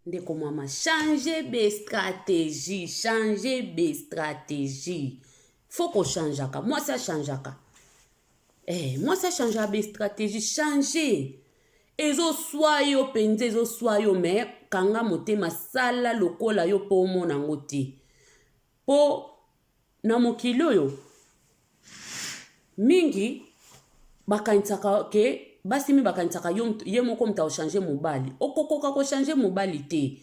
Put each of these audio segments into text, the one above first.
ndeko mama change be stratégie change be stratégie faut kochangeaka mwasi achangeaka eh, mwasi achangeaka be stratégie change ezoswa yo mpenza ezoswa yo me kanga motema sala lokola yo mpo omona yango te mpo Na mokili oyo, mingi bakanisaka ke basi mi bakanisaka yo ye moko moto akochange mobali. Okokoka kochange mobali te.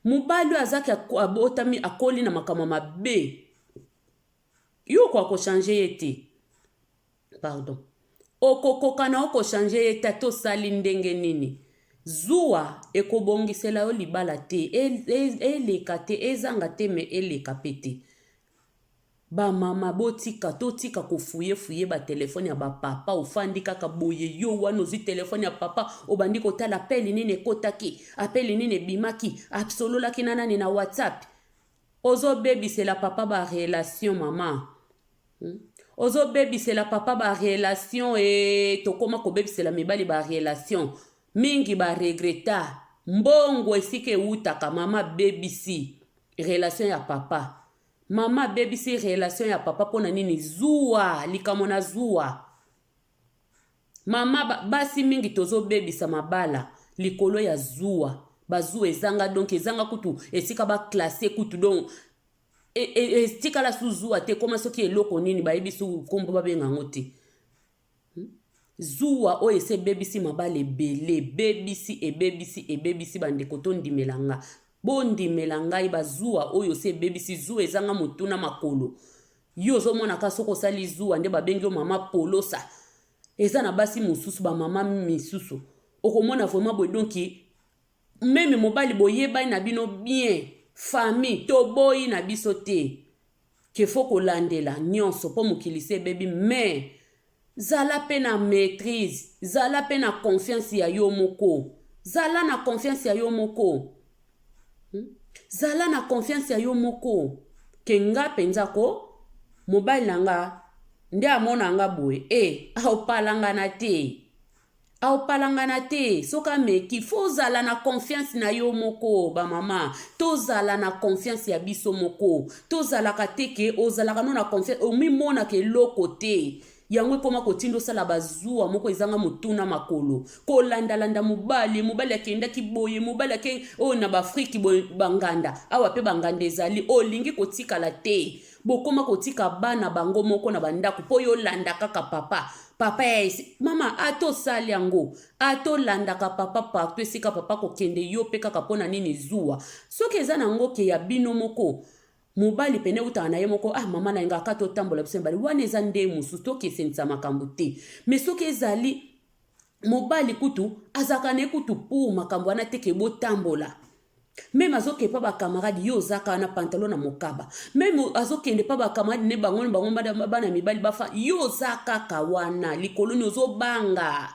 Mobali oyo azaki abotami akoli na makambo mabe, yo okoka kochange ye te. pardon okokoka na oko changer ye tata osali ndenge nini zuwa ekobongisela yo libala te e, e, eleka te ezanga te me eleka pe te bamama botika totika kofuyefuye batelefone ya bapapa ofandi kaka boye yo wana ozwi telefone ya papa obandi kotala apeli nini ekotaki apeli nini ebimaki asololaki na nani na whatsapp ozobebisela papa barelation mama Hum ozo bebisela papa ba relation ee tokoma kobebisela mibali ba relation mingi ba regreta mbongo esika ewutaka mama bebisi relation ya papa mama bebisi relation ya papa pona nini zuwa likamo na zuwa mama basi mingi tozo bebisa mabala likolo ya zuwa bazuwa ezanga donc ezanga kutu esika ba classe kutu donc etikala e, e, e, su zuwa te ekoma soki eloko nini bayebi su nkombo babenga yango te hmm? zuwa oyo esi ebebisi mabala ebele ebebisi ebebisi ebebisi bandeko tondimela nga bondimela ngai bazuwa oyo esi ebebisi zuwa ezanga motu na makolo yo ozomonaka soki osali zuwa nde babengi yo mama polosa eza na basi mosusu bamama misusu okomona vraimen boye donki Meme mobali boyebani na bino bien famille toboyi na biso te que faut kolandela nionso po mokili si ebebi mais zala pe na maitrise zala pe na confiance ya yo moko zala na confiance ya yo moko hmm? zala na confiance ya yo moko ke nga mpenza ko mobali na nga nde amona nga boye e eh, aopalangana te Aopalangana te soki ameki fo ozala na confiance na yo moko bamama tozala na confiance ya biso moko tozalaka te ke ozalaka no na confiance omimonaka eloko te yango ekoma kotinda osala bazuwa moko ezanga motuna makolo kolandalanda mobali mobali akendaki boye mobali ake oyo na baafrike boye banganda awa mpe banganda ezali olingi kotikala te Bokoma kotika bana bango moko na bandako po yo landa kaka papa. Papa ya esi mama ata osali yango ata olandaka papa partout esika papa kokende yo pe kaka pona nini zuwa soki eza na ngo ke ya bino moko mobali pene eutaka na ye moko ah mama na yenga aka totambola biso mibale wana eza nde mosusu tokesenisa makambo te me soki ezali mobali kutu azalaka na ye kutu pour makambo wana teke botambola meme azoke epa bakamarade yo oza kaka na pantalon na mokaba meme azokende epa bakamarade ne bango na bango bana mibali bafa yo oza kaka wana likolo ni ozobanga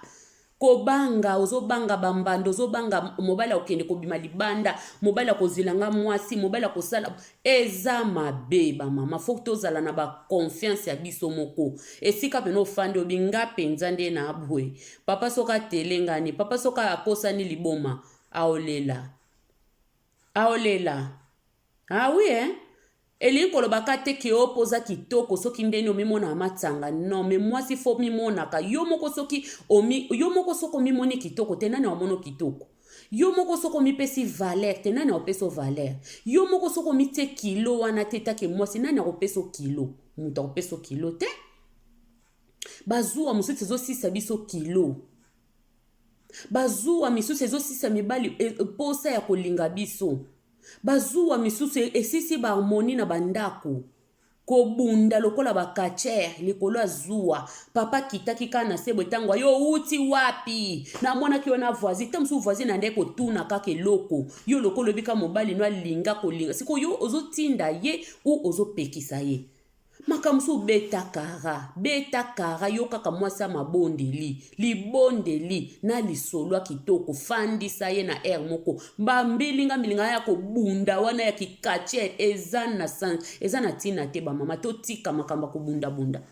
kobanga ozobanga bambanda ozobanga mobali akokende kobima libanda mobali akozwila nga mwasi mobali akosala eza mabe bamama fo tozala na baconfiance ya biso moko esika mpena ofandi obi nga mpenza nde na bwe papa soki atelengani papa soki akosani liboma Aolela. Aolela. Ah oui hein? elingi koloba ka te ke opo oza kitoko soki ndeni omimonaka matanga non me mwasi fo mimonaka yo moko soki omi, yo moko soki omimoni kitoko te nani aomono kitoko yo moko soki omipesi valeur te nani akopeso valeur yo moko soki omitie kilo wana te etake mwasi nani akopeso kilo moto akopeso kilo te bazuwa mosusu ezosilisa biso kilo Ba zuwa misusu ezo silisa mibali posa ya ko linga biso. Ba zuwa misusu e silisi ba harmonie na ba ndaku. Ko bunda lokola ba catcheurs likolo ya zuwa. Papa a kitaki kaka na sebwe tango aye owuti wapi? Na monaki yo na voisine. Tango mosusu voisine ande ko tuna kaka eloko. Yo lokola oyebi kaka mobali no a linga ko linga. Sikoyo yo ozo tinda ye ou ozo pekisa ye? Makambo mosusu beta kara, beta kara, yokaka mwasi ya mabondeli, libondeli na lisolo ya kitoko, fandisa ye na heure moko, ba mbilinga mbilinga ya kobunda wana ya ki catcher eza na eza na tina te, ba mama totika makambo ya kobunda bunda.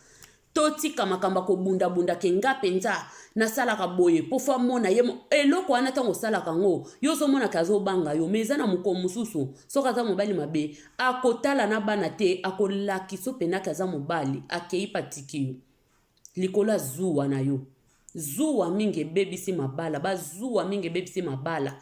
totika makambo ya kobundabunda ke nga mpenza nasalaka boye mpo fo amona ye eloko wana ntango osalaka yango yo ozomonaka azobanga yo ma eza na mokolo mosusu soki aza mobali mabe Ako tala na bana te ako lakiso pena ke aza mobali akeyi pe atiki yo likolo ya zuwa na yo zuwa mingi ebebisi mabala ba zuwa mingi ebebisi mabala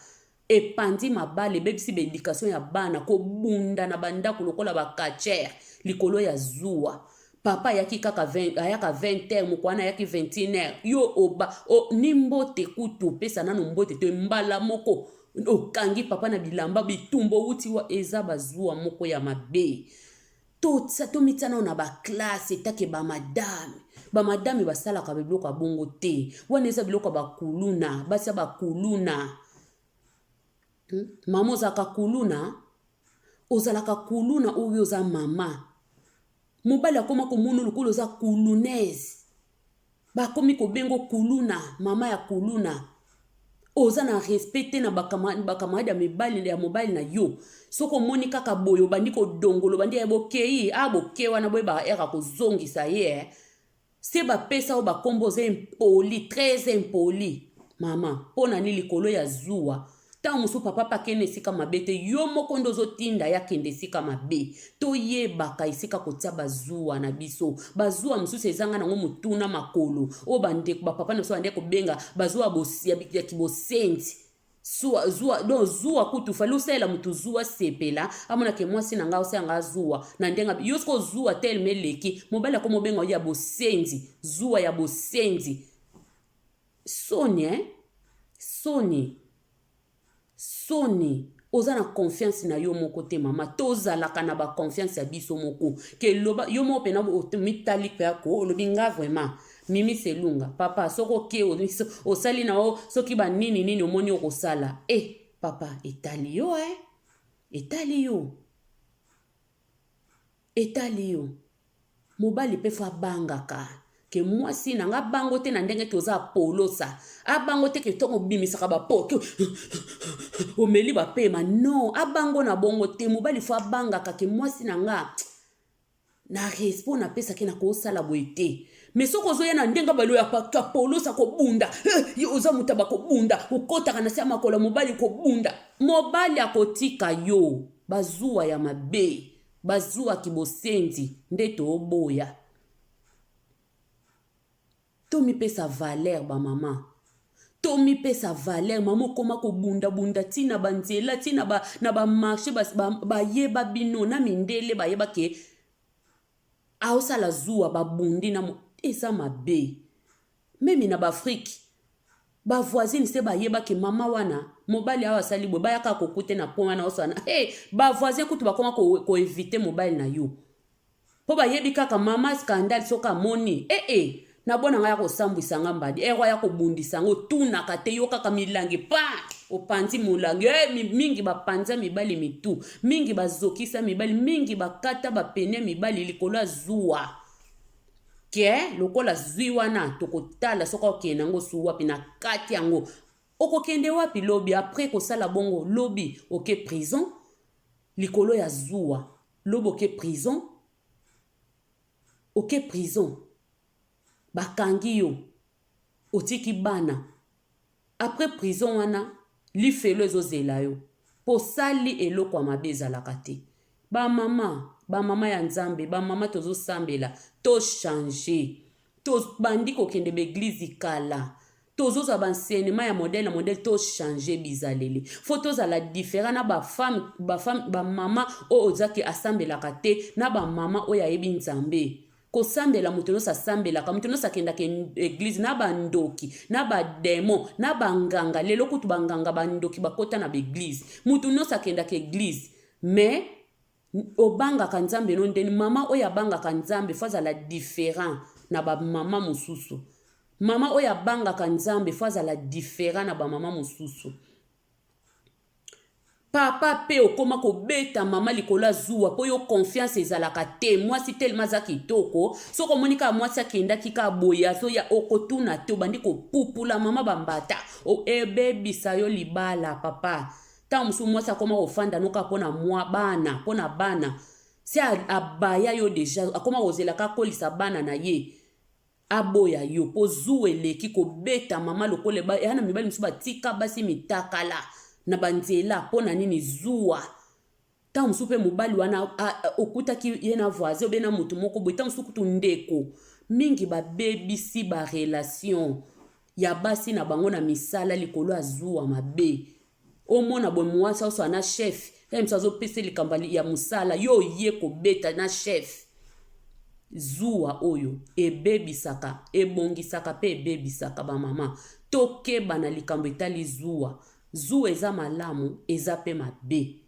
epanzi mabala ebebisi ba education ya bana kobunda na bandako lokola ba catcher likolo ya zuwa papa ayaki kaka 20, ayaka 20 heure mokwana ayaki 21 heure yo oba o, ni mbote kutu opesa nano mbote to mbala moko Okangi papa na bilamba bitumba owuti wa eza ba zuwa moko ya mabe to to mitia nao na ba classe etake ba madame ba madame basalaka ba biloko ya bongo te wana eza biloko ya bakuluna basi ya bakuluna hmm? mama ozalaka kuluna ozalaka kuluna oyo oza mama mobali akoma komona lokola oza kulunaise Bakomi kobenga yo kuluna, mama ya kuluna. Oza na respect te na ba camarade ya mibali ya mobali na yo. Soki omoni kaka boye obandi kodongola, obandi ya bokeyi, ah boke wana boye ba era kozongisa ye eh. Se bapesa yo bakombo oza impoli, très impoli. Mama, mpo na nini likolo ya zuwa Tango mosusu papa pe akende esika mabe te, yo moko nde ozo tinda ye akende esika mabe. To yebaka esika ko tia ba zuwa na biso. Ba zuwa mosusu ezanga nango motu na makolo. Oyo ba ndeko, ba papa na biso ba ndeki ko benga ba zuwa ya bo, ya ki bosenzi. Zuwa, zuwa, donc zuwa kutu fallait osalela motu zuwa asepela, amona ke mwasi na ngai azo salela ngai zuwa na ndenge ya, yo sikoyo zuwa tellement eleki, mobali akomi obenga yo ya bosenzi, zuwa ya bosenzi. Soni hein soni soni oza na confiance na yo moko te mama tozalaka na ba confiance ya biso moko ke loba yo moko pena mitali pe ako olobi nga vraiment mimi selunga papa soki oke osali na yo soki ba nini nini omoni okosala e eh, papa etali yo e eh? etali yo Etali yo mobali pe faut abangaka ke mwasi nanga abango te na ndenge ke oza polosa abango te ke tongo bimisaka ba poto omeli ba pema no abango na bongo te mobali faut abangaka ke mwasi nanga na respo na pesa ke na kosala boye te mais soki ozoya na ndenge baloya paka polosa kobunda eh, yo oza moto ya bakobunda okotaka na se ya makolo mobali kobunda mobali akotika yo bazuwa ya mabe Bazua ki bosenzi nde too boya. To mi pesa valeur ba maman. To mi pesa valeur maman okoma ko bunda bunda ti na ba nzela ti na ba na ba marche ba, ba, ba yeba bino na mindele ba yeba ke aosala zuwa ba bundi na mo, eza mabe. Meme na ba Afrique ba voisine se bayeba ke mama wana mobali awa asali boye bayaka kokute na point wana osana hey, ba voisin kutu bakoma ko, ko eviter mobali na yo po bayebi kaka mama scandale soki amoni ee eh, eh. na bona ngai ya kosambwisa nga mbadi ero ya kobundisa yango otunaka te yo kaka milangi pa opanzi molangi e eh, mingi bapanza mibali mitu mingi bazokisa mibali mingi bakata bapene mibali likolo ya zuwa ke lokola zwi wana tokotala soki okende yango su wapi na kati yango okokende wapi lobi apres kosala bongo lobi oke prison likolo ya zuwa lobi oke prison oke prison bakangi yo otiki bana Après prison wana lifelo ezo zela yo po osali eloko ya mabe ezalaka te ba maman ba maman ya nzambe ba maman tozo sambela to change to bandi ko kende ba eglise kala tozo zwa ba enseignement ya modèle na modèle to change bizaleli faut to zala different na ba femme ba femme ba maman oyo oza ke asambelaka te na ba maman oyo ayebi nzambe kosambela moto nyonso asambelaka moto nyonso akendaka eglize na bandoki na bademo na banganga lelo kutu banganga bandoki bakota na baeglize moto nyonso akendaka eglize mais obangaka nzambe no ndeni mama oyo abangaka nzambe fo azala different na bamama mosusu mama oyo abangaka nzambe fo azala different na bamama mosusu Papa pe okoma kobeta maman likolo ya zuwa po yo confiance ezalaka te mwasi tellement aza kitoko soki omoni kaka mwasi akendaki kaka boye azoya okotuna te obandi kopupula maman bambata ebebisa yo libala papa ntango mosusu mwasi akoma kofanda no kaka mpo na mwa bana mpo na bana se abaya yo deja akoma kozela kakolisa bana na ye Aboya yo po zuwa eleki kobeta mama lokola eba eana mibali mosusu batika basi mitakala na ba nzela po na nini zuwa ntango mosusu mpe mobali wana okutaki ye na voisin obe na moto moko boye ntango mosusu kutu ndeko mingi babebisi barelation ya basi na bango na misala likolo ya zuwa mabe Omona boye muasi aosala na chef tala misu azopesa likambo ya mosala yo oye kobeta na chef zuwa oyo ebebisaka ebongisaka mpe ebebisaka bamama tokeba na likambo etali zuwa zuwa eza malamu eza mpe mabe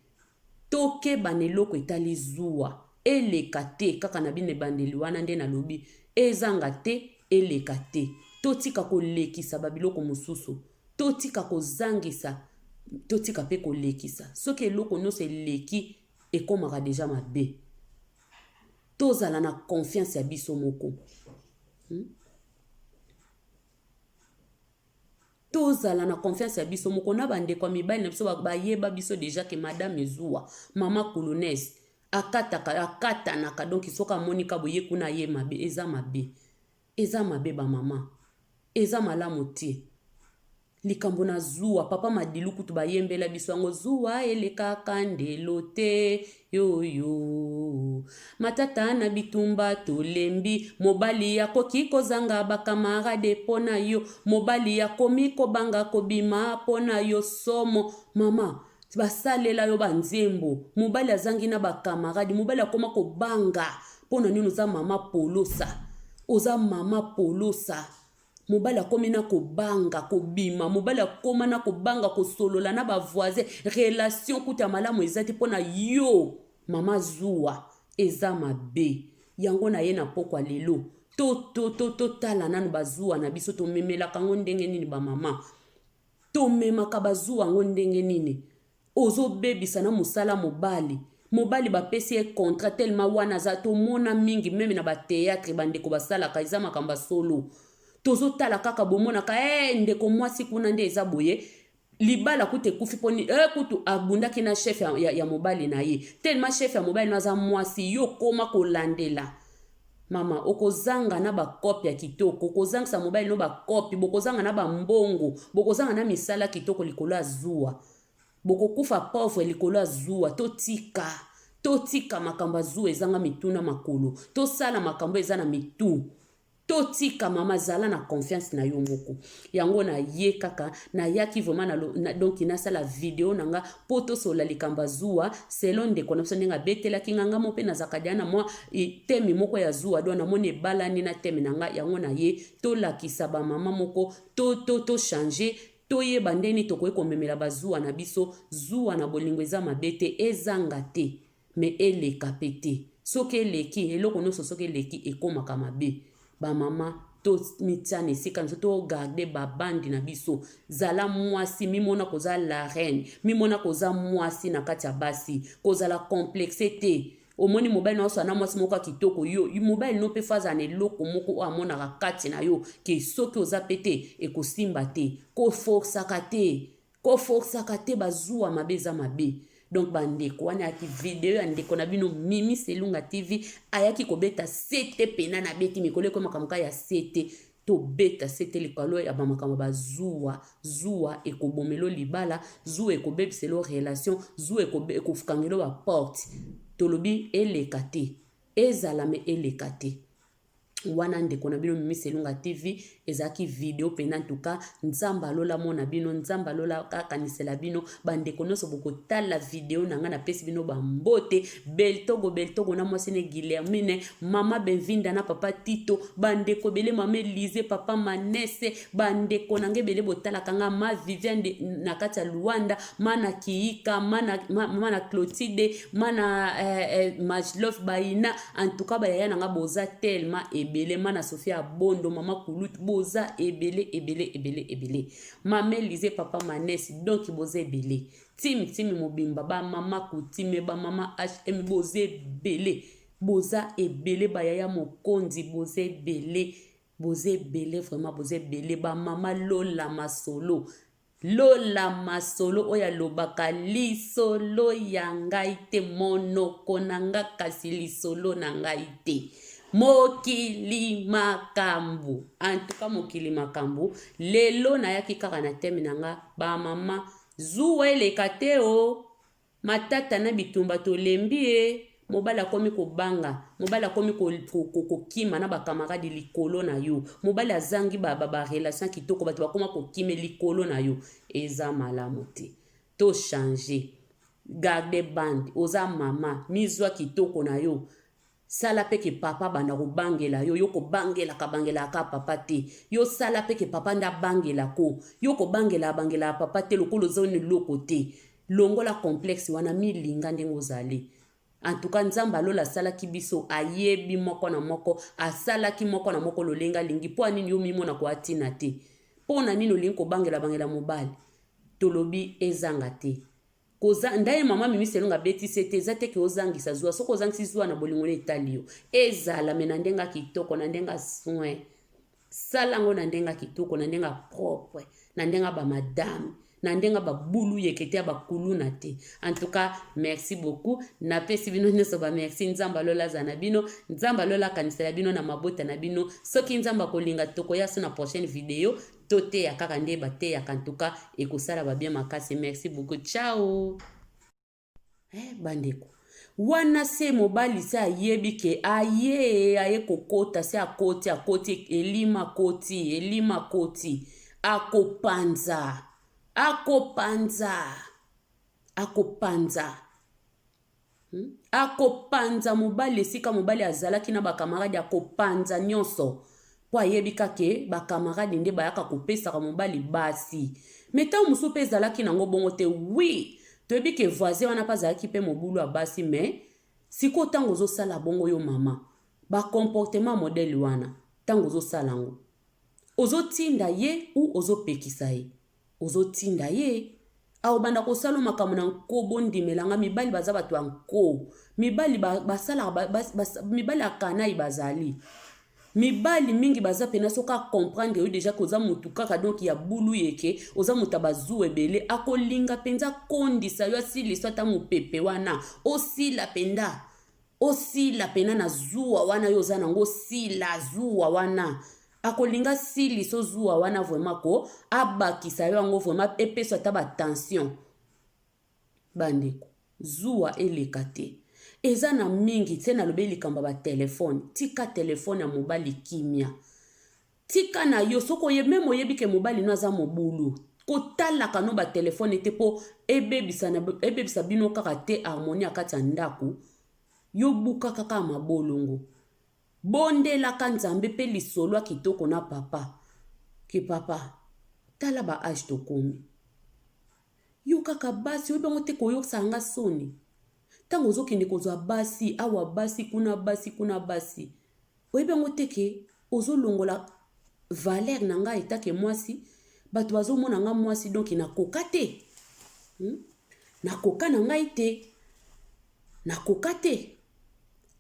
tokeba na eloko etali zuwa eleka te kaka na bino ebandeli wana nde nalobi ezanga te eleka te totika kolekisa babiloko mosusu Totika kozangisa totika mpe kolekisa soki eloko nyonso eleki ekomaka deja mabe tozala na confiance ya biso moko hmm? tozala na confiance ya biso moko na bandeko ya mibali na biso bayeba biso deja ke madame ezuwa mama kulunaise akataka akatanaka donki soki amoni ka boye kuna ye mabe eza mabe Eza mabe ba maman eza malamu te likambo na zuwa papa madilu kutu ba yembela biso yango zuwa elekaka ndelo te yoyo matata na bitumba tolembi mobali ya koki kozanga ba camarade pona yo mobali ya komi kobanga kobima pona yo somo mama basalela yo ba nzembo mobali azangi na ba camarade mobali akoma kobanga pona nini oza mama polosa oza mama polosa mobali akomi na kobanga kobima mobali akoma na kobanga kosolola na bavoisin relation kuta malamu eza te mpo na yo mama zuwa eza mabe yango na ye na pokwa lelo totala nanu bazuwa na biso tomemelaka yango ndenge nini bamama tomemaka bazuwa yango ndenge nini Ozo bebisa na musala mobali. Mobali ba pesi ye contrat tellement wana aza to mona mingi meme na ba theatre ba ndeko ba salaka eza makambo ya solo. Tozo tala kaka bo monaka eeh ndeko mwasi kuna nde eza boye libala kutu ekufi po nini eh kutu abundaki na chef ya, ya, ya mobali na ye tellement chef ya mobali na aza mwasi yo koma kolandela Mama, okozanga na ba cope ya kitoko, okozangisa mobali no ba cope, bokozanga na ba mbongo, bokozanga na misala kitoko likolo ya zuwa. Bokokufa pauvre likolo ya zuwa, totika. Totika makambo ya zuwa ezanga mitu na makolo. Tosala makambo eza na mitu. Totika mama zala na confiance na yo moko. yango na ye kaka nayaki vraiment na, na donc nasala video na nga mpo tosola likambo ya zuwa selon ndeko na biso ndenge abetelaki nga nga mo mpe nazalaka deya na mwa teme moko ya zuwa do namoni ebalani na teme na nga yango na ye tolakisa bamama moko tochange to, to toyeba ndeni tokoki komemela bazuwa na biso zuwa na bolingo eza mabe te ezanga te Mais eleka pe te. Soki eleki, eloko nionso soki eleki ekomaka mabe. Ba mama to mitia na esika na biso, to garder ba bande na biso. Zala muasi, mimona que oza la reine, mimona que oza muasi na kati ya basi. Kozala complexe te. Omoni mobali na yo azo na muasi moko ya kitoko, yo mobali no pe faut azala na eloko moko oyo amonaka kati na yo que soki oza pe te ekosimba te. Ko forcaka te. Ko forcaka te ba zuwa mabe eza mabe. Donc ba ndeko wana ya ki video ya ndeko na bino Mimi Selunga TV ayaki ko beta sete pena na beti mikolo ekomi makambo ka ya sete to beta sete likolo ya ba makambo ba zuwa zuwa ekobomelo libala zuwa ekobebiselo relation zuwa ekofukangelo ba porte tolobi eleka te ezala me eleka te wana ndeko na bino mimi selunga tv ezalaki video mpena ntuka nzambe alola mona bino nzambe alola akanisela bino bandeko nyonso bokotala video na ngai napesi bino bambote beltogo beltogo na mwasi ne guillermine mama benvinda na papa tito bandeko ebele mama elize papa manese bandeko na ngai ebele botalaka ngai ma viviane na kati ya luanda mana kiika mana, ma, mana clotide mana eh, eh, majlof baina En tout cas ba yaya na nga boza tellement ebele mana Sophie abondo mama kulutu boza ebele ebele ebele ebele mame lise papa manes donc boza ebele tim tim mobimba ba mama kutime ba mama hm boza ebele boza ebele ba yaya mokonzi boza ebele boza ebele vraiment boza ebele ba mama lola masolo Lola masolo oyo alobaka lisolo ya ngai te monoko na nga kasi lisolo na ngai te mokili makambu en tout cas mokili makambu lelo nayaki kaka na thème na nga ba maman zuwa eleka te o Matata na bitumba tolembi ye, mobali akomi kobanga, mobali akomi ko, ko, ko, kokima na bakamaradi likolo na yo, mobali azangi ba, ba, ba relation ya kitoko, bato bakoma kokime likolo na yo. Eza malamu te. To changer. Garde bande, oza mama, mizwa kitoko na yo. Sala pe que papa abanda ko bangela yo, yo ko bangelaka bangelaka kaka papa te, yo sala pe que papa nde abangela ko, yo ko bangelaka bangelaka papa te lokola oza un eloko te, longola complexe wana mi linga ndenge ozali. En tout cas nzambe ya lola asalaki biso ayebi moko na moko asalaki moko na moko lolenge alingi po ya nini yo omimona ko ya tina te? Po na nini olingi ko bangela bangela mobali? Tolobi ezanga te. Koza nda ye maman mimi selonga abeti se te eza te ke ozangisa zuwa soki ozangisi zuwa na bolingo na etali yo ezala me na ndenge kitoko na ndenge soin sala yango na ndenge kitoko na ndenge propre na ndenge ba madame na ndenge babulu yekete ya bakuluna te en tout cas merci beaucoup napesi bino nyonso bamerci nzambe alola aza na bino nzambe alola akanisela bino na mabota na bino soki nzambe akolinga tokoya so na prochaine video Toteya kaka nde bateyaka en tout cas ekosala ba bien makasi merci beaucoup ciao eh bandeko wana se mobali se ayebi ke aye aye kokota se akoti akoti elima akoti elima akoti akopanza akopanza akopanza Hmm? Akopanza mobali esika mobali azalaki na bakamaradi, akopanza nyonso mpo ayebi kake bakamaradi nde bayaka kopesaka mobali basi. Me ntango mosusu mpe ezalaki nango bongo te. Wi, toyebi ke voisin wana mpe azalaki mpe mobulu ya basi, me sikoyo ntango ozosala bongo yo mama, bakomportema modele wana ntango ozosala yango, ozotinda ye u ozopekisa ye? Ozo tinda ye Ako banda ko sala makambo na nko bo ndimela nga mibali baza bato ya nko mibali ba, ba sala ba, ba, ba, mibali ya kanayi bazali mibali mingi baza pena soki a comprendre yo deja koza mutu kaka donc ya bulu yeke oza mutu bazu ebele akolinga penza kondisa yo asilisa ata mupepe wana osila penza Osila pena na zuwa wana yo oza nango sila zuwa wana akolinga sili so zuwa wana vraiment ko abakisa yo yango vraiment epesa ata ba tension bandeko zuwa eleka te eza na mingi se nalobi likambo ya batelefone tika telefone ya mobali kimia Tika na yo soki oye meme oyebi ke mobali no aza mobulu kotalaka no ba telephone te po ebebisa na ebebisa bino kaka te harmonie ya kati ya ndako yo bukaka kaka mabolongo bondelaka nzambe pe lisolo ya kitoko na papa ke papa tala ba age tokomi yo kaka basi oyebi yango te koyokisaka nga soni ntango ozokende kozwa basi awa basi kuna basi kuna basi Oyebi yango te ke ozo longola valeur na nga etat ke mwasi batu bazo mona nga mwasi donc na koka te hmm? na koka na ngai te na koka te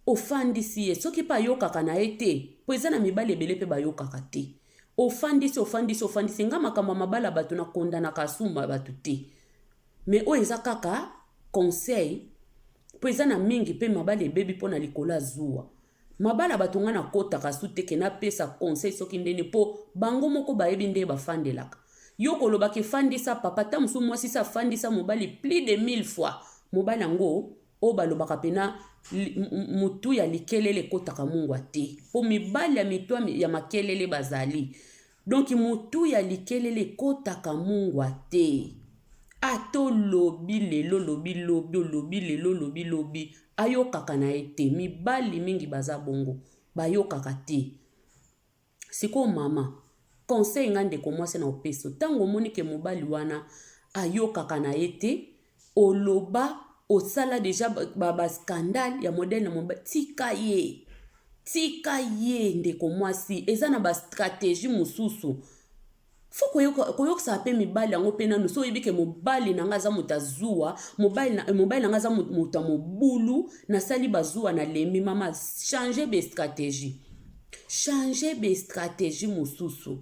ofandisi ye soki pe ayokaka na ye te po eza na mibali ebele pe bayokaka te ofandisi ofandisi ofandisi nga makambo ya mabala bato na kondanaka asumba bato te me oyo eza kaka conseil mpo eza na mingi mpe mabala ebebi mpo na likolo ya zuwa Mabala batu nga na kotaka su te ke na pesa conseil soki ndeni po bango moko bayebi ndenge ba fandelaka. Yo koloba ke fandisa papa tango mosusu mwasi se afandisa mobali plus de 1000 fois mobali yango oyo balobaka pena mutu ya likelele ekotaka mungwa te po mibali ya mitu ya makelele bazali. Donc motuya likelele ekotaka mungwa te? Ata olobi lelo olobi lobi olobi lelo olobi lobi ayokaka na ye te mibali mingi baza bongo bayokaka te sikoyo mama conseil nga ndeko mwasi na opesi yo ntango omoni ke mobali wana ayokaka na ye te oloba osala deja ba, ba scandale ya modèle na mobali tika ye tika ye ndeko mwasi eza na ba stratégie mosusu fo koyokisaka mpe mibali yango mpe nanu so oyebi ke mobali na ngai aza moto ya zuwa mobali na eh, ngai aza moto ya mobulu nasali bazuwa na lembi mama change bestratégie change bestratégie mosusu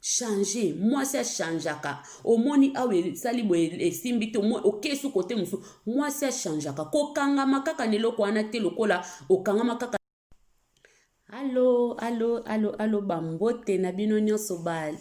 change mwasi achangeaka omoni awa esali boye esimbi te okesu kote mosusu mwasi achangeaka kokangama kaka na eloko wana te lokola okangama kaka alo alo alo alo bambote na bino nyonso ba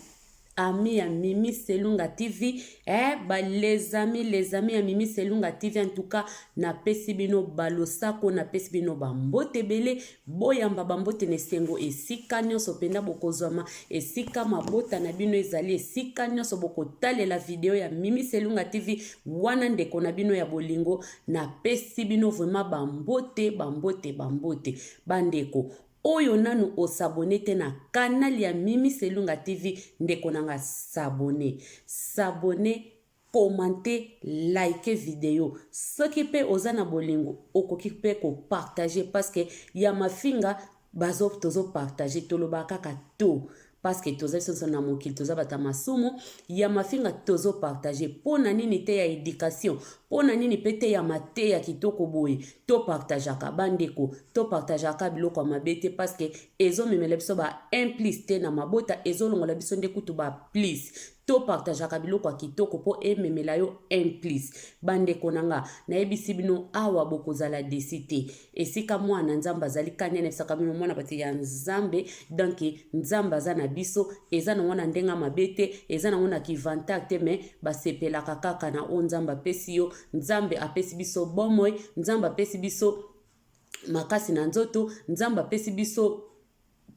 ami ya mimi selunga tv eh, ba les amis les amis ya mimi selunga tv en tout cas napesi bino balosako napesi bino bambote ebele Boyamba bambote na esengo esika nyonso mpenza bokozwama, esika mabota na bino ezali, esika nyonso bokotalela video ya Mimi Selunga TV, wana ndeko na bino ya bolingo, napesi bino vraiment bambote, bambote, bambote. Bandeko, oyo nanu osabone te na canal ya Mimi Selunga TV, ndeko na nga sabone, sabone, commente like video soki pe oza na bolingo okoki pe ko partage parceque ya mafinga bazo tozo partage tolobaka kaka to parceque toza biso nso na mokili toza bata masumu ya mafinga tozo partage pona nini te ya education pona nini pe te ya mateya kitoko boye to partageaka bandeko to partageaka biloko ya mabe te parceque ezomemela biso ba un plus te na mabota ezolongola biso nde kutu ba plus To partageaka biloko ya kitoko po ememela yo un plus. Ba ndeko na nga, nayebisi bino awa bokozala deçu te. Esika mwana na Nzambe azali kani anebisaka bino mwana batu ya Nzambe donc Nzambe aza na biso. Eza nango na ndenge ya mabe te, eza nango na ki vantard te mais ba sepelaka kaka na oyo Nzambe apesi yo. Nzambe apesi biso bomoi, Nzambe apesi biso makasi na nzoto, Nzambe apesi biso.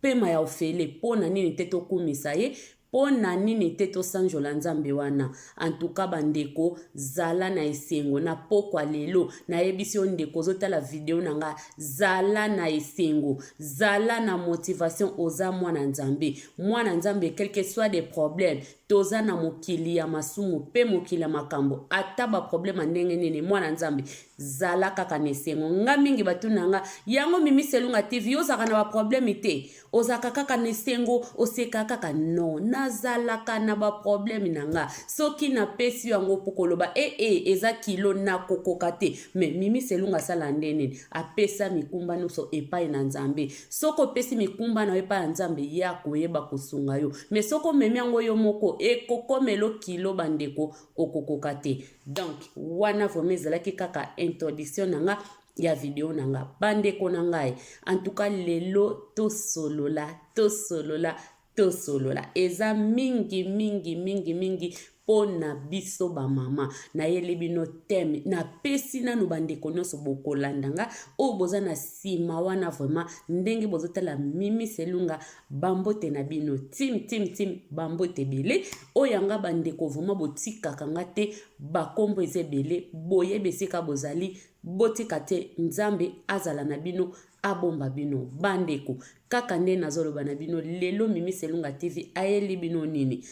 Pema ya ofele po na nini te tokumisa ye po na nini te tosanjola nzambe wana en tout cas ba ndeko zala na esengo na pokwa lelo na yebisi yo ndeko ozo tala video na nga zala na esengo zala na motivation oza mwana nzambe mwana nzambe quelque soit des problèmes Toza na mokili ya masumu pe mokili ya makambo ata ba problème ya ndenge nini mwana nzambe zala kaka na esengo nga mingi batuna nga yango mimi selunga tv yo ozalaka na ba problème te ozalaka kaka na esengo oseka kaka no nazalaka na ba problème na nga soki napesi yo yango po koloba ee eh, eh, eza kilo nakokoka te me mimi selunga asala nde nini apesa mikumba nyonso epai na nzambe soki opesi mikumba na yo epai ya nzambe ye akoyeba kosunga yo me soki omemi yango yo moko ekokomelo kilo bandeko okokoka te donk wana vraimen ezalaki kaka introduction na nga ya video na nga bandeko na ngai antuka lelo tosolola tosolola Tosolola eza mingi mingi mingi mingi mpo na biso bamama nayeli bino teme napesi nanu bandeko nyonso bokolanda nga oyo boza na nsima wana vraimen ndenge bozotala mimi selunga bambote na bino tim tim tim bambote ebele oyo yanga bandeko vraimen botikaka nga te bakombo eza ebele boyebi esika bozali botika te nzambe azala na bino abomba bino bandeko kaka nde nazoloba na bino lelo mimi selunga tv ayeli bino nini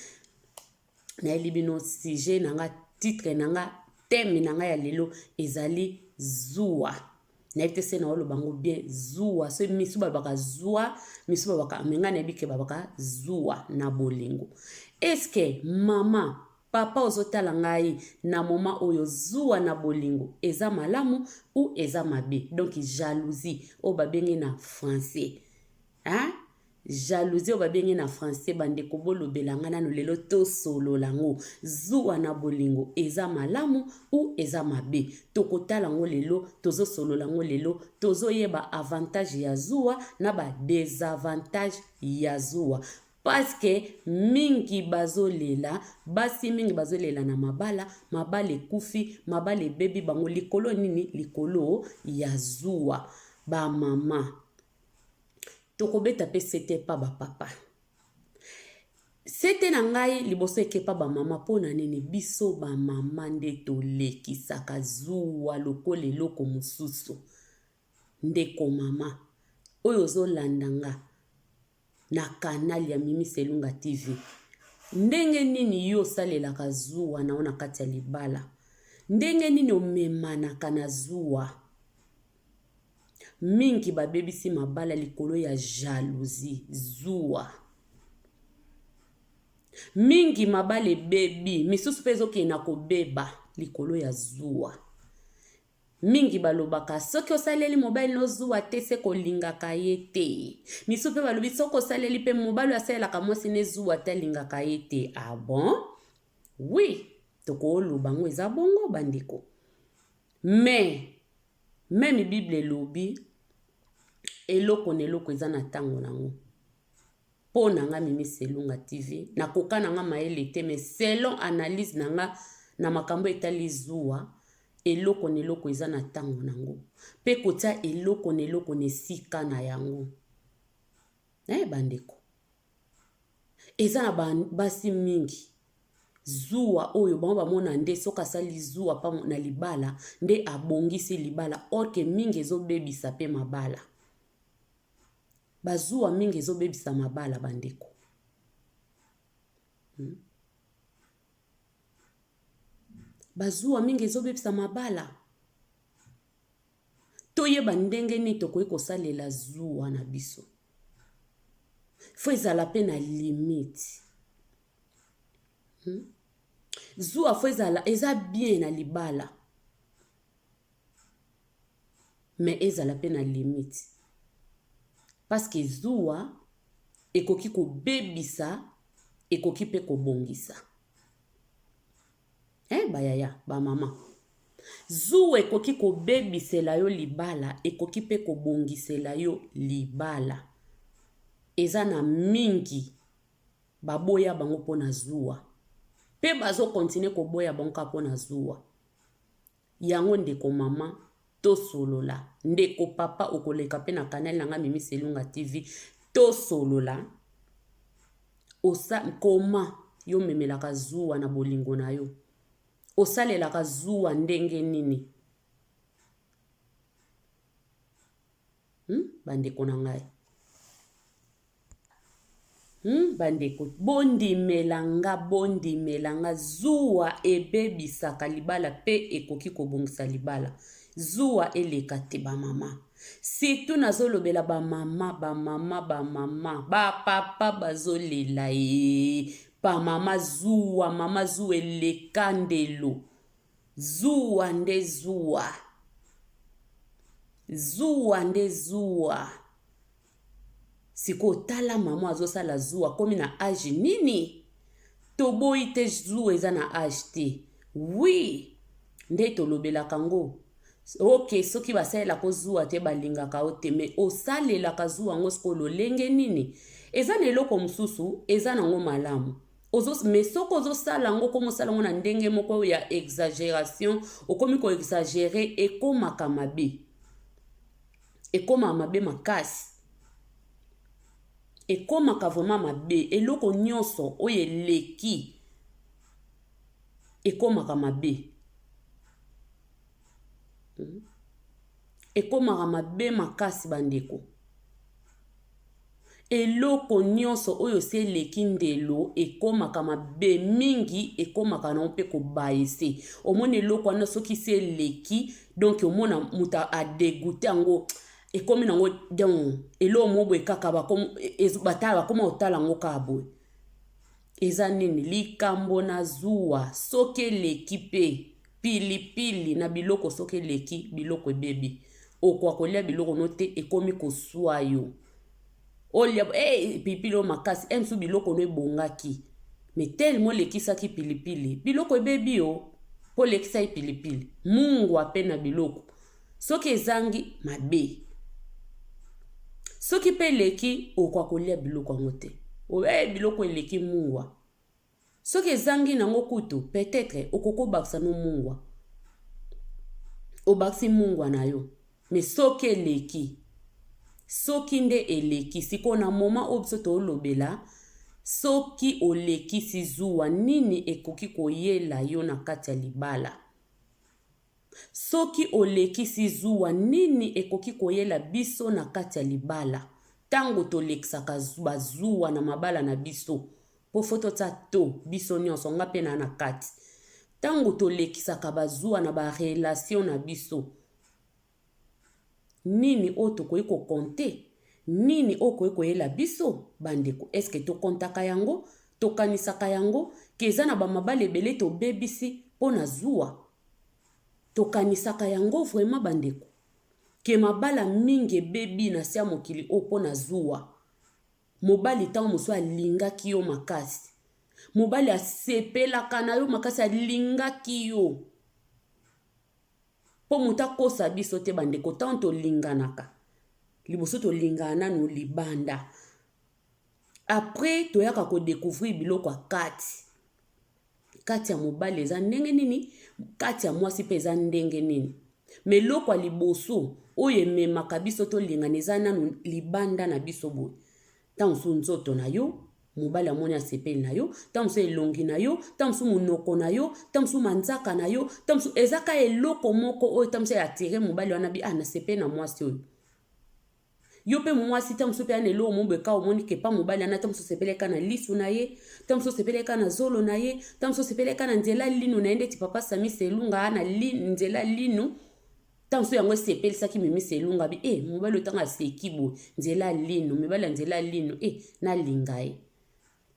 nayeli bino sujet na nga titre na nga teme na nga ya lelo ezali zuwa nayebi te se na oloba yango bien zuwa so misu balobaka zuwa misu balobaka me ngai nayebi ke balobaka zuwa na bolingo eske mama Papa ozo tala ngai na moment oyo zuwa na bolingo eza malamu ou eza mabe donc jalousie oyo ba bengi na français hein jalousie oyo ba bengi na français ba ndeko bo lobela nga nanu lelo to solola ngo zuwa na bolingo eza malamu ou eza mabe toko tala ngo lelo tozo solola ngo lelo tozo yeba avantage ya zuwa na ba desavantage ya zuwa Parce que mingi bazo lela, basi mingi bazo lela na mabala, mabala ekufi, mabala ebebi bango likolo ya nini? Likolo ya zuwa. Ba mama, toko beta pe sete epa ba papa. Sete na ngai liboso eke epa ba mama po na nini? Biso ba mama nde to lekisaka zuwa lokola eloko mosusu. Ndeko mama, oyo ozo landa nga, na canal ya Mimi Selunga TV. Ndenge nini yo osalelaka zuwa na yo na kati ya libala? Ndenge nini omemanaka na zuwa? Mingi babebisi mabala likolo ya jalousie, zuwa. Mingi mabala ebebi, misusu mpe ezokende na kobeba likolo ya zuwa. Mingi balobaka soki osaleli mobali no zuwa te se kolingaka ye te. Misu pe balobi soki osaleli pe mobali oyo asalelaka mwasi ne zuwa te alingaka ye te. Ah bon? Oui, tokoloba ngo eza bongo ba ndeko. Mais meme bible elobi eloko na eloko eza na tango na ngo. Po na nga Mimi Selunga TV na koka na nga mayele te mais selon analyse na nga na makambo etali zuwa eloko na eloko eza na tango na ngo pe kotia eloko na eloko na esika na yango eh bandeko eza na ba basi mingi zuwa oyo bango bamona nde soki asali zuwa pa na libala nde abongisi libala orke mingi ezobebisa pe mabala Ba zuwa mingi ezo bebisa mabala ba ndeko. Hum. Ba zuwa mingi ezo bebisa mabala. Toyeba ndenge nini tokoki kosalela zuwa na biso. Faut ezala pe na limite. Hum. Zuwa faut ezala eza bien na libala. mais ezala pe na limite parce que zuwa ekoki kobebisa ekoki pe kobongisa eh bayaya ba mama zuwa ekoki kobebisela yo libala ekoki pe kobongisela yo libala eza na mingi baboya bango mpo na zuwa mpe bazokontinue koboya bango kaka mpo na zuwa Yango ndeko maman tosolola. Ndeko papa okoleka pe na canal na nga mimi selunga TV tosolola osa koma yo omemelaka zuwa na bolingo na yo osalelaka zuwa ndenge nini Hum bandeko na ngai hum bandeko bondimela nga bondimela nga zuwa ebebisaka libala mpe ekoki kobongisa libala zuwa eleka te bamama situ nazolobela bamama bamama bamama bapapa bazolela ee bamama zuwa mama zuwa eleka ndelo Zuwa nde zuwa. Zuwa nde zuwa. Sikoyo tala mama azosala zuwa akomi na age nini? Toboyi te zuwa eza na age te. Oui, nde tolobelaka ngo. Ok, soki basalelaka zuwa te balingaka yo te, mais osalelaka zuwa yango sikoyo lolenge nini? Eza na eloko mosusu, eza nango malamu. ozo mais soki ozosala yango okomi osala yango na ndenge moko ya exagération okomi koexagere ekomaka mabe ekomaka mabe makasi ekomaka vraiment mabe eloko nyonso oyo eleki ekomaka mabe hmm? ekomaka mabe makasi bandeko Eloko nyonso oyo se eleki ndelo ekomaka mabe mingi ekomaka nango pe ko baisse omoni eloko wana soki se eleki donc omona mutu a degoute yango ekomi nango donc eloko moko boye kaka bakoma kotala yango kaka boye eza nini likambo na zuwa soki eleki pe. Pilipili na biloko soki eleki biloko ebebi okoka kolia biloko no te ekomi kosua yo olia hey, eh, pilipili oyo makasi eh, mosusu biloko no ebongaki me telema olekisaki pilipili biloko ebebi o mpo olekisaki pilipili mungwa mpe na biloko soki ezangi mabe soki mpe eleki okoka kolia biloko yango te oyo hey, eh, biloko eleki mungwa Soki ezangi nango kutu peut etre okoki obakisa no mungwa obakisi mungwa na yo mais soki eleki soki nde eleki sikoyo na moment oyo biso tolobela soki olekisi zuwa nini ekoki koyela yo na kati ya libala Soki olekisi zuwa, nini ekoki koyela biso na kati ya libala? Tango tolekisaka ba zuwa na mabala na biso, po faut totia to, biso nionso, nga pe naa na kati. Tango tolekisaka ba zuwa na ba relations na biso, Nini oyo tokoki ko compter? Nini oyo ekoki koyela biso? Bandeko, est ce que to comptaka yango? Tokanisaka yango? Que eza na ba mabala ebele tobebisi mpo na zuwa? Tokanisaka yango vraiment bandeko? Que mabala mingi ebebi na se ya mokili oyo mpo na zuwa? Mobali tango mosusu alingaki yo makasi. Mobali asepelaka na yo makasi, alingaki yo. Po moto akosa biso te ba ndeko tango tolinganaka liboso tolingana nanu libanda après toyaka ko decouvrir biloko ya kati kati ya mobali eza ndenge nini kati ya mwasi pe eza ndenge nini me eloko ya liboso oyo ememaka biso tolingana eza nanu libanda na biso boye Ntango mosusu nzoto na yo, mobali amoni asepeli na yo, ntango mosusu elongi na yo, ntango mosusu monoko na yo, ntango mosusu manzaka na yo, ntango mosusu eza kaka eloko moko oyo ntango mosusu eatire mobali wana bi ah nasepeli na mwasi oyo yo mpe mwasi ntango mosusu mpe ana eloko mo boye kaka omoni kepa mobali wana ntango mosusu osepeli kaka na lisu na ye ntango mosusu osepeli kaka na zolo na ye ntango mosusu osepeli kaka na nzela lino na ye ndeti papa samisa elunga ana li, nzela lino ntango so yango esepelisaki mimisa elungabi e eh, mobali otanga aseki boye nzela lino mibali ya nzela lino e eh, nalinga ye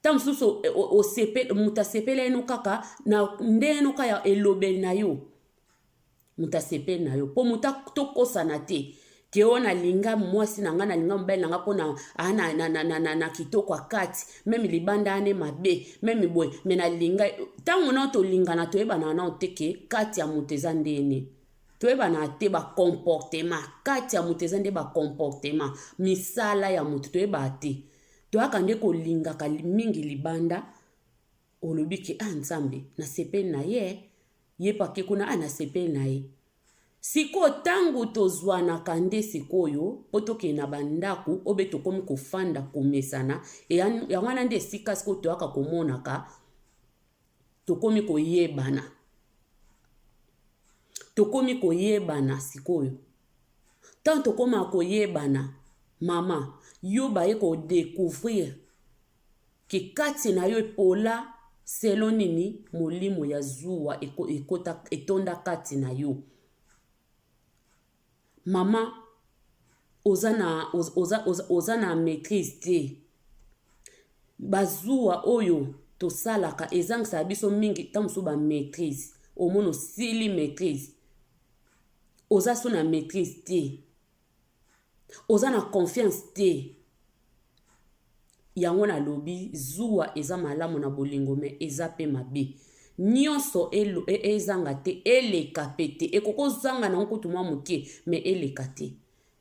ntango mosusu moto asepeli yeno kaka na nde yeno kaka ya elobeli na yo moto asepeli na yo mpo moto tokosana te ke oyo nalinga mwasi na ngai nalinga mobali na ngai mpo na, ah, na, na, na, na, na, na kitoko ya kati meme libanda ane mabe meme boye me nalinga ntango nao tolingana toyebana nao te ke kati ya moto eza ndene toyebana te ba comportement kati ya moto eza nde ba comportement misala ya moto toyebaa te toyaka nde kolingaka mingi libanda olobi ke ah nzambe nasepeli na ye ye pake kuna ah nasepeli na ye sikoyo ntango tozwanaka nde sikoyo mpo tokei na bandako oyo be tokomi kofanda komesana yango wana nde esika sikoyo toyaka komonaka Tokomi koyebana. Tokomi koyebana sikoyo. Ntango tokomaka koyebana, mama, yo baye ko decouvrir ke kati na yo epola selon nini molimo ya zuwa ekota, etonda kati na yo. Maman oza na oza oza oza na maitrise te ba zuwa oyo tosalaka ezangisaka biso mingi ntango mosusu ba maitrise omona osili maitrise oza so na maitrise te oza na confiance te. Yango na lobi zuwa eza malamu na bolingo me eza pe mabe nionso ezanga te eleka pe te ekoki ozanga nango kutu mwa moke me eleka te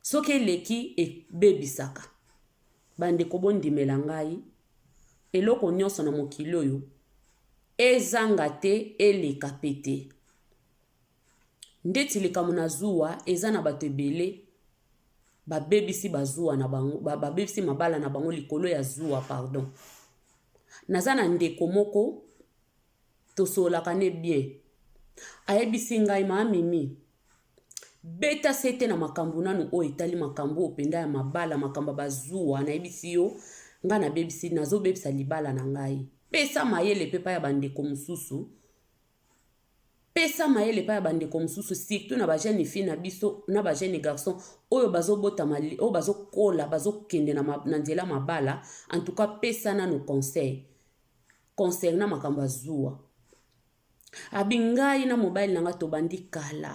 soki eleki ebebisaka bandeko bondimela ngai eloko nionso na mokili oyo ezanga te eleka pe te. Ndeti likambo na zuwa eza na bato ebele babebisi ba zuwa na bango babebisi mabala na bango likolo ya zuwa pardon. Naza na ndeko moko tosololaka ne bien ayebisi ngai maa mimi beta sete na makambo nanu oyo etali makambo oyo mpenza ya mabala makambo ya bazuwa nayebisi yo ngai nabebisi nazobebisa libala na ngai pesa mayele mpe epai ya bandeko mosusu pesa mayele epai ya bandeko mosusu surtout na bajeune fille na biso na bajeune garçon oyo bazobotama oyo bazokola bazokende na, ma, na nzela mabala en tout cas pesa nano conseil concernant makambo ya zuwa abi ngai na mobali na ngai tobandi kala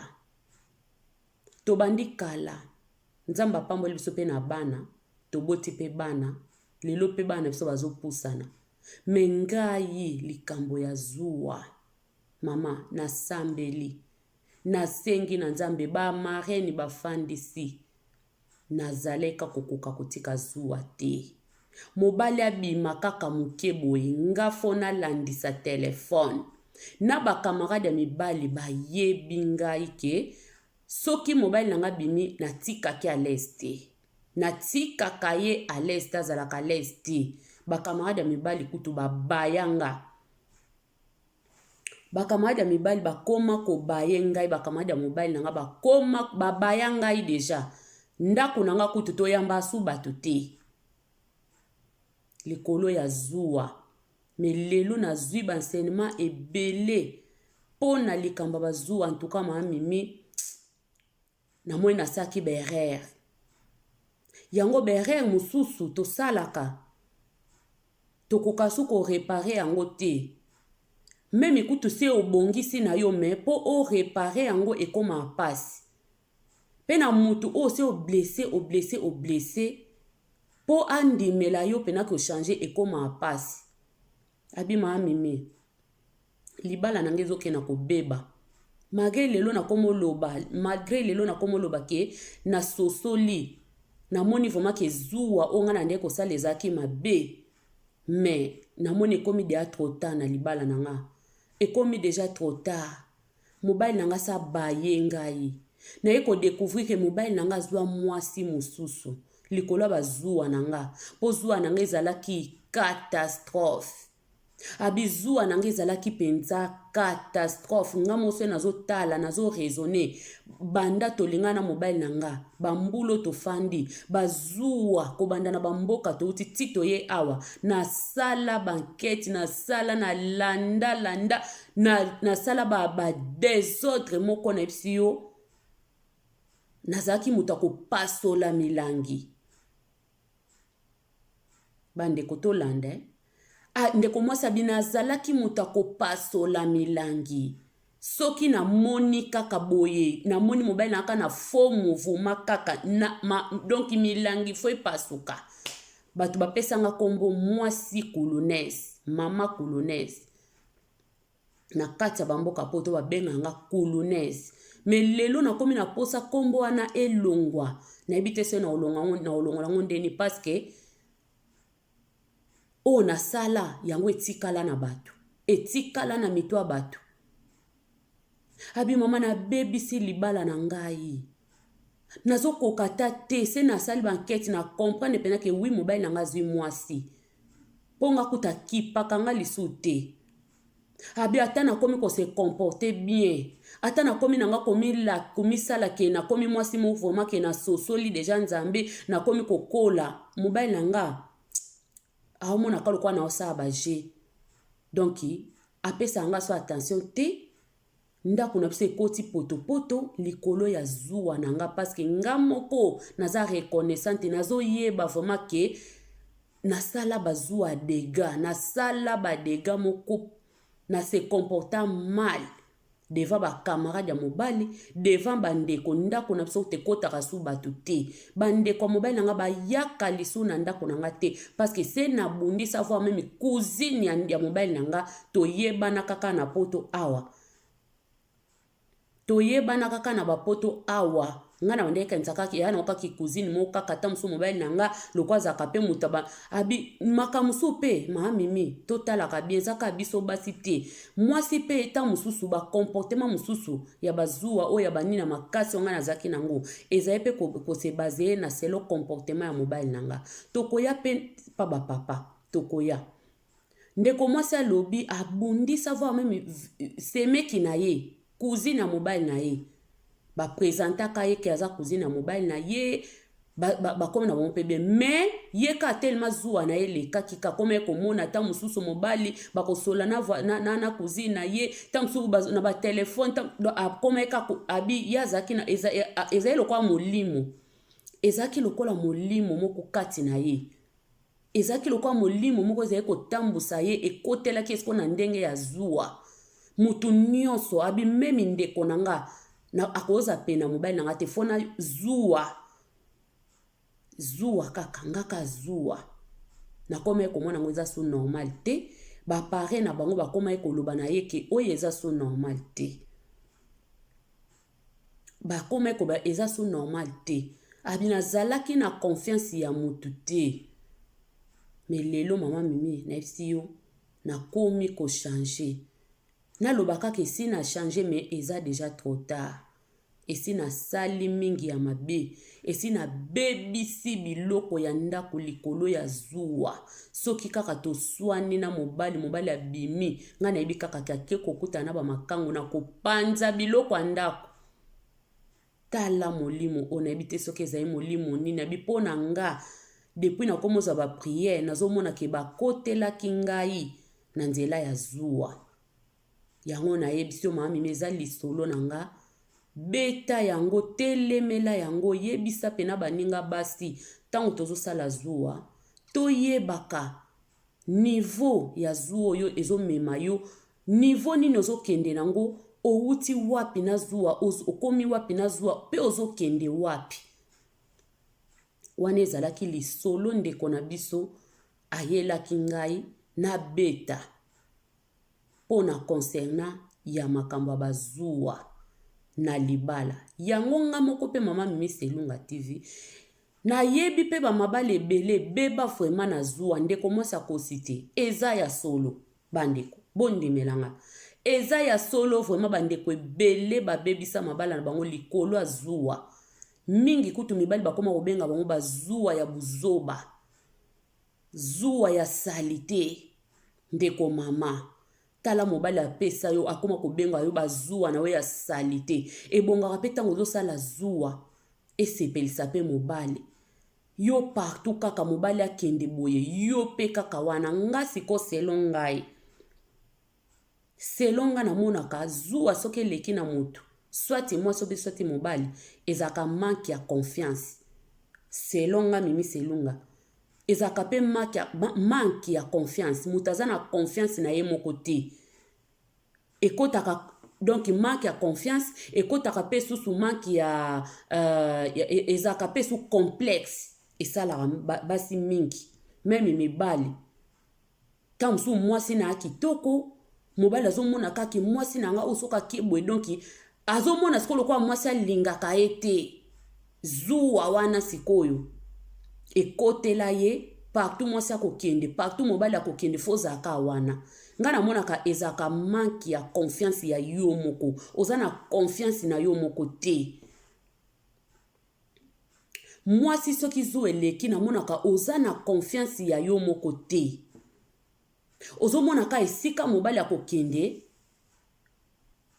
Tobandi kala. Nzambe apamboli biso pe na bana, toboti pe bana, lelo pe bana na biso bazo pusana. Mais ngai likambo ya zuwa, mama na sambeli, na sengi na Nzambe ba marraines ba fandisi, na zaleka kokoka kotika zuwa te. Mobali abima kaka muke boye nga faut na landisa telephone na ba camarade ya mibali ba yebi ngai ke soki mobali na nga abimi na tikake à l'aise te na tikaka ye à l'aise te azalaka à l'aise te ba camarade ya mibali kutu ba baya nga Bakamarade ya mibali bakoma kobaye ngai, bakamarade ya mobali na ngai bakoma babaya ngai deja. Ndako na ngai kutu toyamba asu bato te likolo ya zuwa. Me lelo nazwi ba enseignement ebele mpo na likambo ya bazuwa, en tout cas mama Mimi Na moni na saki ba erreur yango ba erreur mususu tosalaka tokoka su ko repare yango te meme kutu se obongisi na yo me po o repare yango ekoma pasi pe na mutu oyo se oblesse oblesse oblesse po andimela yo pena ko changer ekoma pasi Abima a mimi. Libala na nga ezo kende na ko beba. Malgre lelo na komo loba, malgre lelo na komo loba ke na sosoli. Na moni vraiment ke zuwa o nga na nde ko sala ezalaki mabe. Mais na moni ekomi deja trop tard na libala na nga. Ekomi deja trop tard. Mobali na nga asi abaye ngai. Naye ko decouvrir que mobali na nga azua muasi mususu likolo ya ba zuwa na nga. Po zuwa na nga ezalaki catastrophe. Abi zuwa na nga ezalaki penza catastrophe. Nga moko soki nazo tala, nazo raisonner, banda tolingana na mobali na nga, ba mbula oyo tofandi, ba zuwa kobanda na ba mboka touti ti toye awa, nasala ba enquetes, nasala, na landa landa, na nasala ba ba desordre moko nayebisi yo nazalaki moto ya kopasola milangi bandeko tolanda eh? Ah, ndeko mwasi abi nazalaki moto ya kopasola milangi soki namoni kaka boye namoni mobali na kaka na faux mouvema kaka na, ma, donc milangi fo epasuka bato bapesanga nkombo mwasi kulunese mama kulunese na kati ya bamboka poto babenga nga kulunese me lelo nakomi na posa nkombo wana elongwa nayebi te soki naolongola yango ndeni paske oyo nasala yango etikala na bato etikala na mito ya bato Abi mama na bebisi libala na ngai. Nazo koka ata te se na sali ba enquête na comprendre pena ke oui mobali na ngai azui mwasi. Po nga kuta kipaka nga lisu te. Abi ata na komi ko se comporter bien. Ata na komi na nga komi la komi sala ke na komi mwasi mo vraiment ke na sosoli deja Nzambe na komi kokola mobali na nga. aomona ka lokola naosala ba jeu donc apesaka nga so attention te ndako na biso ekoti potopoto likolo ya zuwa na nga parceke nga moko naza reconnaissante nazoyeba vraiment ke nasala bazuwa ya dega nasala badega moko na se comporta mal devant ba camarade ya mobali devant ba ndeko ndako na biso tekotaka su bato te ba ndeko ya mobali na nga bayaka lisu na ndako na nga te parce que se na bundisa avoir meme cousine ya, ya mobali na nga toyebana kaka na poto awa toyebana kaka na bapoto awa nga na bandeki kanisa kaka ya na kaka cousine mo kaka ta musu mobali na nga loko azaka pe mutu ba abi makamusu pe ma mimi to talaka bien zaka biso basi te mwasi pe ta mususu ba comportement mususu ya bazuwa o ya banina makasi nga na zaki nango ezali pe ko, ko se baser na selo comportement ya mobali na nga tokoya pe pa ba papa tokoya Ndeko mwasi alobi abundi savoir meme semeki na ye cousine ya mobali na ye ba presentaka ye ke aza cousine ya mobali na ye bakomi na bango mpe bien mais ye ka telema zuwa na ye elekaki kakomaki komona ata mosusu mobali bakosola na, na, na, na cousine na ye ta mosusu na batelefone akomaki kaka abi ye azalaki na ezali lokola molimo ezalaki lokola molimo moko kati na ye Ezalaki lokola molimo moko ezali kotambusa ye, ekotelaki esiko na ndenge ya zuwa. Moto nyonso abimemi ndeko na nga na akoza pe na mobali na nga te fona zuwa zuwa kaka nga ka zuwa nakomaki komona yango eza so normal te bapare na bango bakomaki koloba na ye ke oyo eza so normal te Ba koma ko ba eza so normal te. Abi na zalaki na confiance ya mutu te. Mais lelo maman Mimi na yebisi yo na komi ko change. Na loba kaka esi na change mais eza dejà trop tard. Esi na sali mingi ya mabe. Esi nabebisi biloko ya ndako likolo ya zuwa. Soki kaka toswani na mobali, mobali abimi, ngai nayebi kaka ke ake kokutana na bamakango, nakopanza biloko ya ndako. Tala molimo oyo, nayebi te soki ezali molimo nini, abi mpo na nga, depuis nakomi ozwa bapriere, nazomona ke bakotelaki ngai na nzela ya zuwa. Yango nayebisi yo mama mimi eza lisolo na nga beta yango telemela yango yebisa pena baninga basi ntango tozosala zuwa toyebaka niveau ya zuwa oyo ezomema yo niveau nini ozokende nango owuti wapi na zuwa okomi wapi na zuwa mpe ozokende wapi wana ezalaki lisolo ndeko na biso ayelaki ngai nabeta pona concernant ya makambo ya bazuwa na libala yango nga moko pe mama mimisa elunga TV na yebi pe ba mabala ebele ebeba vraiment na zuwa ndeko mwasi akosi te eza ya solo ba ndeko bondimela nga eza ya solo vraiment ba ndeko ebele ba bebisa mabala na bango likolo ya zuwa mingi kutu mibali bakoma kobenga bango bazuwa ya buzoba Zuwa ya salite ndeko maman tala mobali apesa yo akoma kobenga yo ba zuwa na yo ya salite ebongaka pe tango ozosala zuwa esepelisa pe mobali yo partout kaka mobali akende boye yo pe kaka wana nga siko selon ngai selon nga namonaka zuwa soki eleki na mutu soit mwasi obe soit mobali ezalaka manque ya confiance selon nga mimi selunga ezalaka pe manque ya, manque ya confiance mutu aza na confiance na ye moko te ekotaka donc manque ya confiance ekotaka pe susu manque ya uh, ezalaka pe su complexe esalaka basi mingi meme mibali Tango mosusu mwasi na ya kitoko, mobali azomona kaka mwasi na nga oyo soki akie boye donc azomona sikoyo lokola mwasi alingaka ye te. Zuwa wana sikoyo ekotela ye partout mwasi akokende partout mobali akokende fo ozalaka wana ngai namonaka ezalaka manke ya confiance ya yo moko oza na confiance na yo moko te Mwasi soki zuwa eleki na monaka oza na confiance ya yo moko te. Ozo mona ka esika mobali akokende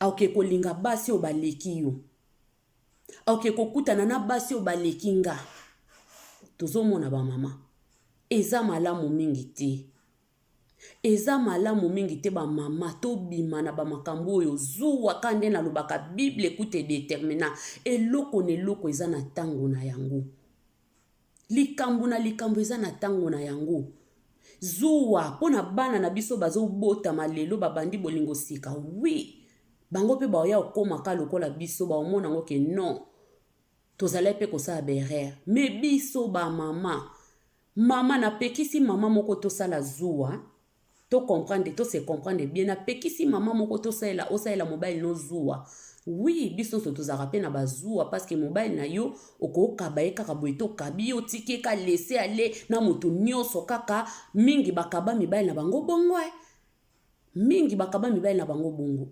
akoke kolinga basi oyo baleki yo. Akoke kokutana na basi oyo baleki nga. Tozo mona ba mama. Eza malamu mingi te. Eza malamu mingi te ba maman to bima na ba makambu oyo zuwa ka nde na lobaka bible ekuta e determina eloko na eloko eza na tango na yango likambu na likambu eza na tango na yango zuwa pona bana na biso bazo botama lelo ba bandi bolingo sika oui bango pe baoya okoma ka lokola biso ba omona ngo ke non tozalaki pe kosala ba erreur mais biso ba maman Maman na pekisi maman moko to sala zuwa to comprendre to se comprendre bien na pekisi maman moko to salela o salela mobile no zuwa oui biso nso tozalaka pe na ba zuwa parce que mobile na yo okokaba ye kaka boye to kabi yo tiki ka laisser aller na moto nioso kaka mingi bakaba mibali na bango bongo eh mingi bakaba mibali na bango bongo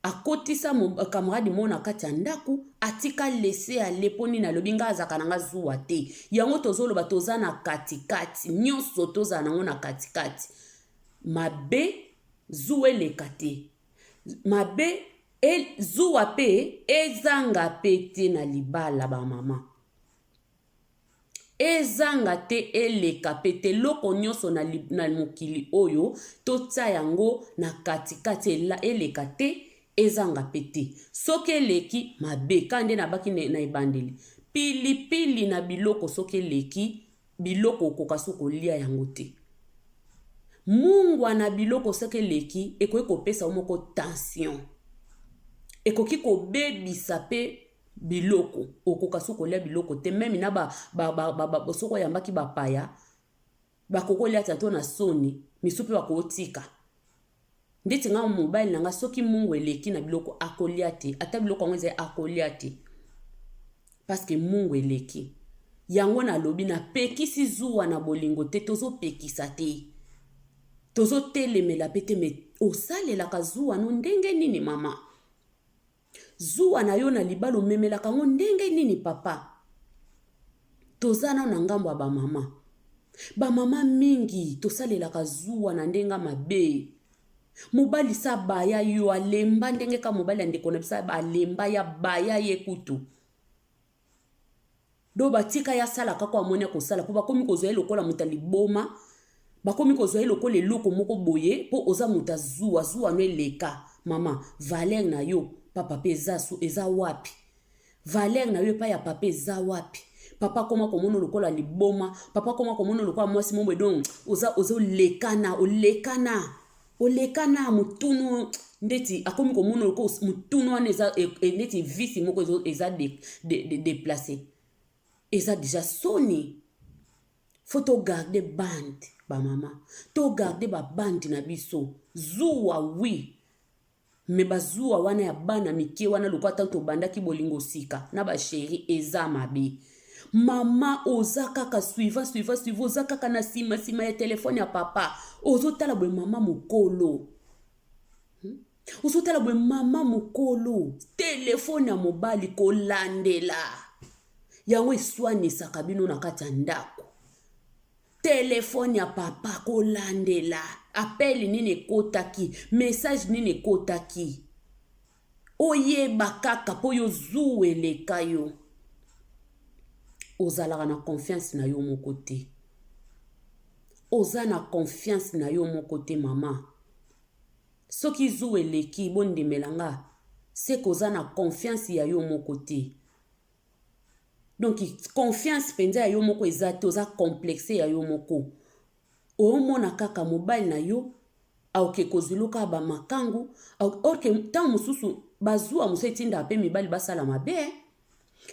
Akotisa camarade moko na kati ya ndaku atika laisser aller po nini alobi nga azalaka na nga zuwa te yango tozo loba toza na kati kati nionso tozala nango na kati kati mabe zuwa eleka te mabe e, zuwa pe ezanga pe te na libala ba mama Ezanga te, eleka pe te, eloko nionso na, na mokili oyo, totia yango na kati kati, ela, eleka te, ezanga pe te. Soki eleki, mabe. Kaka nde nabaki na, na ebandeli. Pili pili na biloko soki eleki, biloko okoka su kolia yango te. Mungwa na biloko soki eleki, ekoki kopesa yo moko tension. Ekoki kobebisa pe biloko okoka soki kolia biloko te meme na ba, ba, ba, ba, ba, soki oyambaki bapaya bakoki olia te to na soni misu mpe bakotika ndeti ngai mobali na ngai soki mungu eleki na biloko akolia te ata biloko yango ezali akolia te parceke mungu eleki yango nalobi napekisi zuwa na bolingo te tozopekisa te tozotelemela mpe te me osalelaka zuwa no ndenge nini mama Zuwa na yo na libala omemelaka yango ndenge nini papa? Toza nano na ngambo ya ba mama. Ba mama mingi tosalelaka zuwa na ndenge ya mabe. Mobali sa baya yo alemba ndenge ka mobali ya ndeko na biso alemba ya baya ye kutu. Donc batika ye asala kaka oyo amoni akosala mpo bakomi kozwa ye lokola moto ya liboma, bakomi kozwa ye lokola eloko moko boye mpo oza moto ya zuwa, zuwa no eleka. Mama, valeur na yo pa papa eza, eza wapi? Valeur na yo epai ya papa eza wapi? Papa akoma komono lokola liboma, papa akoma komono lokola mwasi momo edon oza oza olekana, olekana. Oleka n'a mutunu ndeti akomi komona loko mutunu wana eza e, e, ndeti visi moko eza de, de, de, deplace eza deja soni faut to garder bande bamama to garder babandi na biso zuwa wi Mais ba zuwa wana ya bana mike wana lokola tangu tobandaki bolingo sika na ba cherie eza mabe. Maman oza kaka suivant suivant suivant oza kaka na sima sima ya telephone ya papa ozo tala boye maman mukolo. Hmm? Ozo tala boye maman mukolo telephone ya mobali kolandela yango eswanisaka bino na kati ya ndako. Telephone ya papa kolandela appel nini ekotaki message nini ekotaki oyeba kaka mpo yo zuu eleka yo ozalaka na confiance na yo moko te oza na confiance na yo moko te mama soki zuu eleki bondimela nga se koza na confiance ya yo moko te donc confiance mpenza ya yo moko eza te oza complexe ya yo moko omona kaka mobali na yo aoke kozuluka bamakangu orke ntango mosusu bazuwa mosusu etindaka mpe mibali basala mabe eh.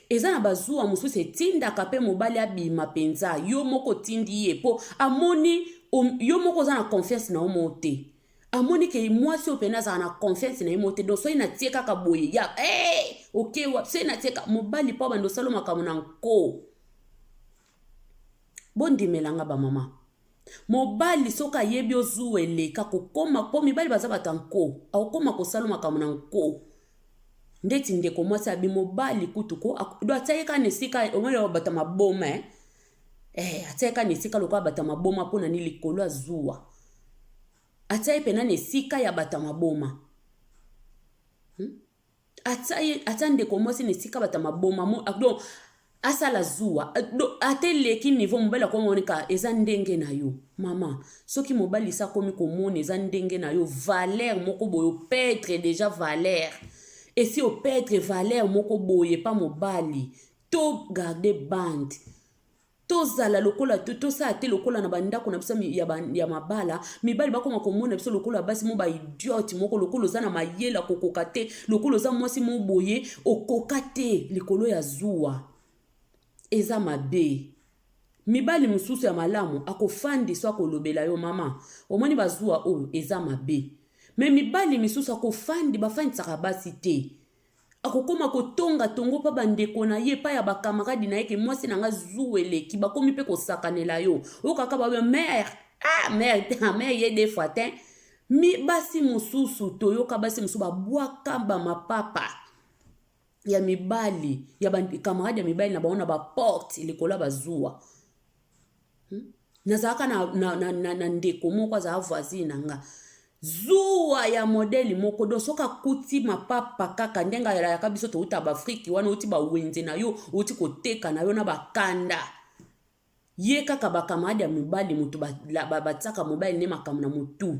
eza na bazuwa mosusu etindaka mpe mobali abima mpenza yo moko otindi ye mpo amoni yo moko oza na confiance na yo moko te amoni ke mwasi oyo pene azala na confiance na ye mo te donc soki natie kaka boye ya hey, eh, oke okay, soki natie kaka mobali mpo bando osala makambo na nko bondimela nga bamama mobali soki ayebi ozuwa eleka kokoma mpo mibali baza bato ya nko akokoma kosala makambo na nko ndeti ndeko mwasi abi mobali kutu ko do atiaki kaka na esika omoni bato ya maboma eh? Eh, atia ye kaka na esika lokola bato ya maboma mpo na nini likolo ya zuwa. Atia ye mpenza na esika ya bato ya maboma. Hmm? Atia, ye, atia ndeko mwasi na esika bato ya maboma. Mo, ah, donc, asala zuwa eh, ata eleki niveau mobali akomi omoni ka eza ndenge na yo mama soki mobali esi akomi komona eza ndenge na yo valeur moko boye opedre deja valeur esi opedre valeur moko boye epa mobali To garde bande tozala lokola tosala te lokola na bandako na biso ya mabala mibali bakoma komona biso lokola basi mo baidiote moko lokola oza na mayele kokoka te lokola oza mwasi mo boye okoka te likolo ya zuwa eza mabe mibali mosusu ya malamu akofandi so akolobela yo mama omoni bazuwa oyo eza mabe me mibali misusu akofandi bafandisaka basi te akokoma kotonga tongo pa bandeko na ye pa ya bakamaradi na ye ke mwasi na nga zuwa eleki bakomi mpe kosakanela yo okaka babe mare ah mare te mare ye de fois te mi basi mosusu toyoka basi mosusu babwaka bamapapa ya mibali ya bakamaradi ya mibali na bango na baporte likolo ya bazuwa hmm? nazalaka na, na, na, na, na ndeko moko azala voisine na nga zuwa ya modeli moko don soki akuti mapapa kaka ndenge ayalaka biso touta baafrike wana outi bawenze na yo outi koteka na yo na bakanda ye kaka bakamarade ya mibali moto batiaka mobali nde makambo na motu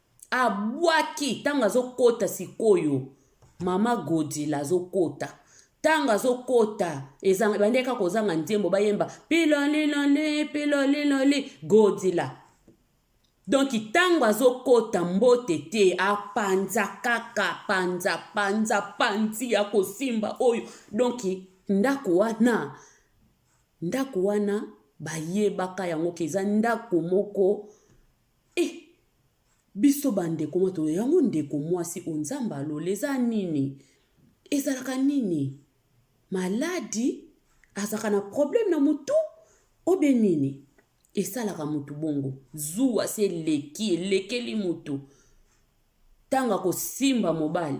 Abwaki ntango azokota sikoyo mama godila azokota ntango azokota ebandaki kaka kozanga nzembo bayemba piloliloli piloliloli godila donki ntango azokota mbote te apanza kaka panza panza panzi ya kosimba oyo donki ndako wana ndako wana bayebaka yango ke eza ndako moko Eh! Biso ba ndeko mwa to yango ndeko mwasi o nzambe alola eza nini? Ezalaka nini? Maladi? Azalaka na problème na mutu? Obe nini? Esalaka mutu bongo. Zuwa se eleki, elekeli mutu. Tango akosimba mobali.